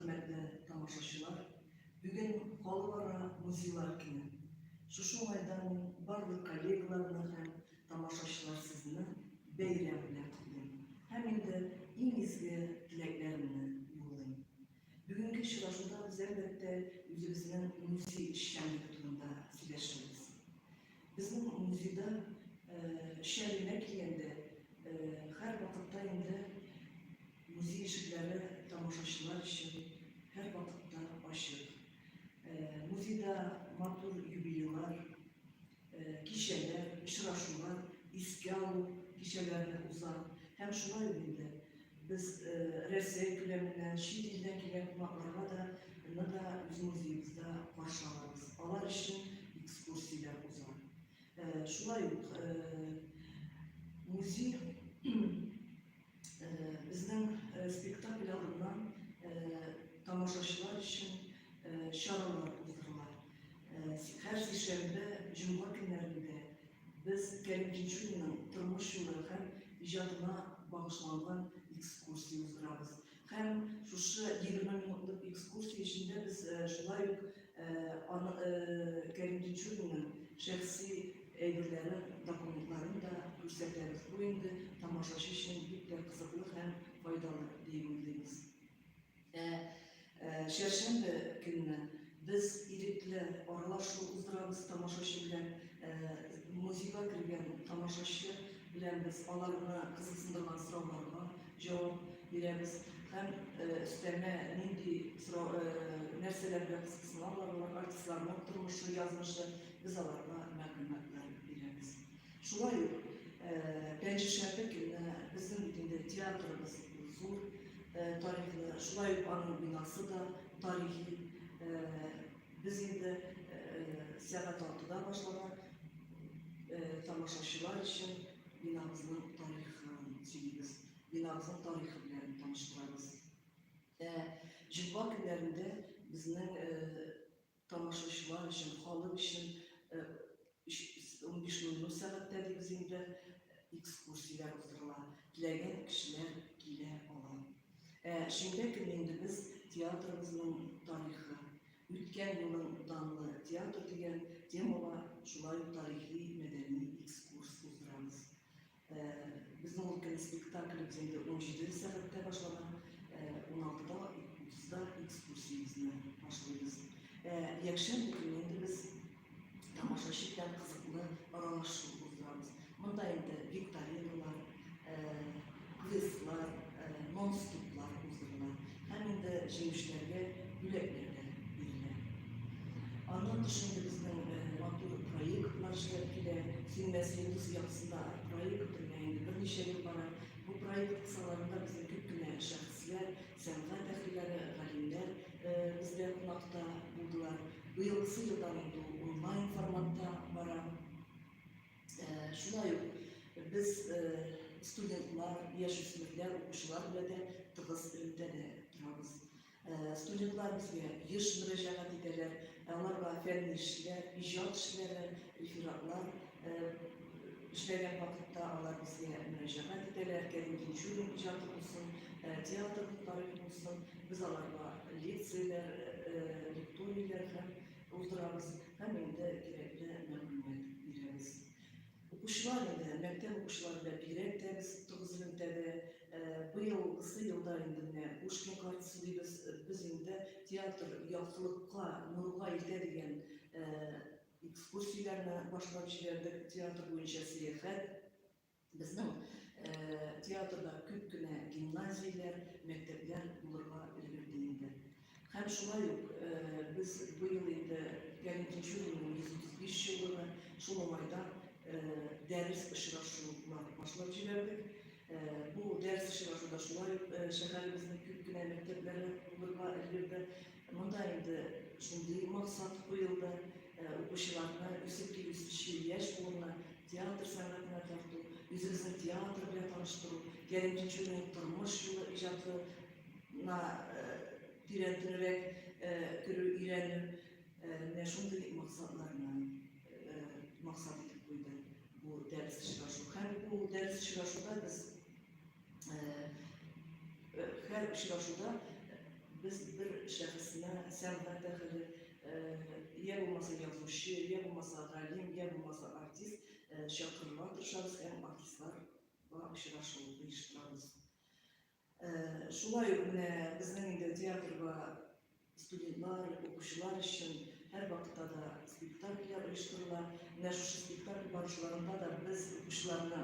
Хөрмәтле тамашачылар, бүген Халыкара музейлар көне. Шушы уңайдан мин барлык коллегаларны һәм тамашачылар сезне бәйрәм белән котлыйм һәм инде иң изге теләкләремне юллыйм. Бүгенге очрашуда без, әлбәттә, үзебезнең музей эшчәнлеге турында сөйләшербез. Безнең музейда шәлегә килгәндә, һәрвакытта инде музей ишекләре тамашачылар өчен һәрвакытта ачык. Музейда матур юбилейлар, кичәләр, очрашулар, искә алу кичәләре уза һәм шулай ук инде Без Россия күләменнән, чит илдән килгән кунакларга да ны да үз музеебызда каршы алабыз. Алар өчен экскурсияләр уза. Шулай ук музей безнең спектакль алдыннан тамашачылар өчен чаралар уздырыла. Һәр сишәмбе, җомга көннәрендә Без Кәрим Җишүнинең тормыш юлы һәм иҗатына багышланган экскурсия уздырабыз. Һәм шушы егерме минутлык экскурсия эчендә без шулай ук аны Кәрим Тинчуринның шәхси әйберләрен, документларын да күрсәтәбез. Бу инде тамашачы өчен бик тә кызыклы һәм файдалы диеп уйлыйбыз. Ә чәршәмбе көнне без ирекле аралашу уздырабыз тамашачы белән. Музейга кергән тамашачы белән без аларны кызыксындырган сорауларга җавап бирәбез һәм өстәмә нинди нәрсәләр белән кызыксыналар, артистларның тормышы, язмышы, без аларга мәгълүматлар бирәбез. Шулай ук Пәнҗешәмбе көнне безнең бит инде театрыбыз зур тарихлы, шулай ук аның бинасы да тарихи. Без инде сәгать алтыда башлана тамашачылар өчен бинабызның тарихын сөйлибез, бинабызның тарихы белән таныштырабыз. Җомга көннәрендә безнең Тамашачылар өчен, халык өчен унбиш ноль ноль сәгатьтә дибез инде, экскурсияләр уздырыла. Теләгән кешеләр килә ала. Ә шимбә көне инде без театрыбызның тарихы, үткән елның данлы театры дигән темага шулай ук тарихи-мәдәни экскурс уздырабыз. Безнең ул көнне спектакль без инде 17 сәгатьтә башлаган, 16-да, 30-да экскурсиябезне башлыйбыз. Якшәмбе көнне инде без тамашачы белән кызыклы аралашу уздырабыз. Монда инде викториналар, квестлар, монступлар уздырыла һәм инде җиңүчеләргә бүләкләр дә бирелә. Аннан тыш инде безнең матур проектлар эшләп килә. Син мәсьәләс ясында проект белән инде берничә ел бара. Бу проект кысаларында безнең күп кенә шәхесләр, сәнгать әһелләре, галимнәр бездә кунакта булдылар. Быелгысы елдан инде онлайн форматта бара. Шулай ук без студентлар, яшүсмерләр, укучылар белән дә тыгыз элемтәдә торабыз. Студентлар безгә еш мөрәҗәгать итәләр, аларга фәнни эшләр, иҗат эшләре, рефератлар эшләгән вакытта алар безгә мөрәҗәгать итәләр, Кәрим Тинчурин иҗаты булсын, театр тарихы булсын, без аларга лекцияләр, лекторияләр һәм Булдырабыз һәм инде кирәкле мәгълүмат бирәбез. Укучылар инде, мәктәп укучылары белән бигрәк тә без тугыз элемтәдә быел кысы елда инде менә Пушкин картасы дибез, без инде театр яктылыкка, нурга илтә дигән экскурсияләрне башлап җибәрдек, театр буенча сәяхәт. Безнең театрда күп кенә гимназияләр, мәктәпләр булырга өлгерде инде. Һәм шулай ук без быел инде Галим Тинчуринның 135 еллыгы, шул уңайдан дәрес очрашулары башлап җибәрдек. Бу дәрес очрашуда шулай ук шәһәребезнең күп кенә мәктәпләре булырга өлгерде. Монда инде шундый максат куелды, укучыларны үсеп килүче яшь буынны Театр сәнгатенә тарту, үзебезне театр белән таныштыру, Кәрим Тинчуринның тормыш юлы иҗатына тирәнтенрәк керү, өйрәнү, менә шундый максатларны максат итеп куйды бу дәрес очрашу. Һәм бу дәрес очрашуда без һәр очрашуда без бер шәхесне сәнгать әһеле йә булмаса язучы, йә булмаса галим, йә булмаса артист чакырырга тырышабыз һәм артистларга очрашу оештырабыз. Шулай ук менә безнең инде театрга студентлар, укучылар өчен һәр вакытта да спектакльләр оештырыла. Менә шушы спектакль барышларында да без укучыларны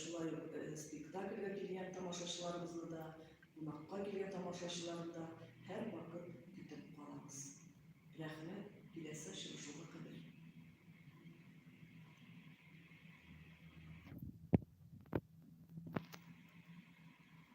Шулай ук спектакльгә килгән тамашачыларыбызны да, кунакка килгән тамашачыларны да һәрвакыт көтеп калабыз. Рәхмәт, киләсе очрашуга кадәр!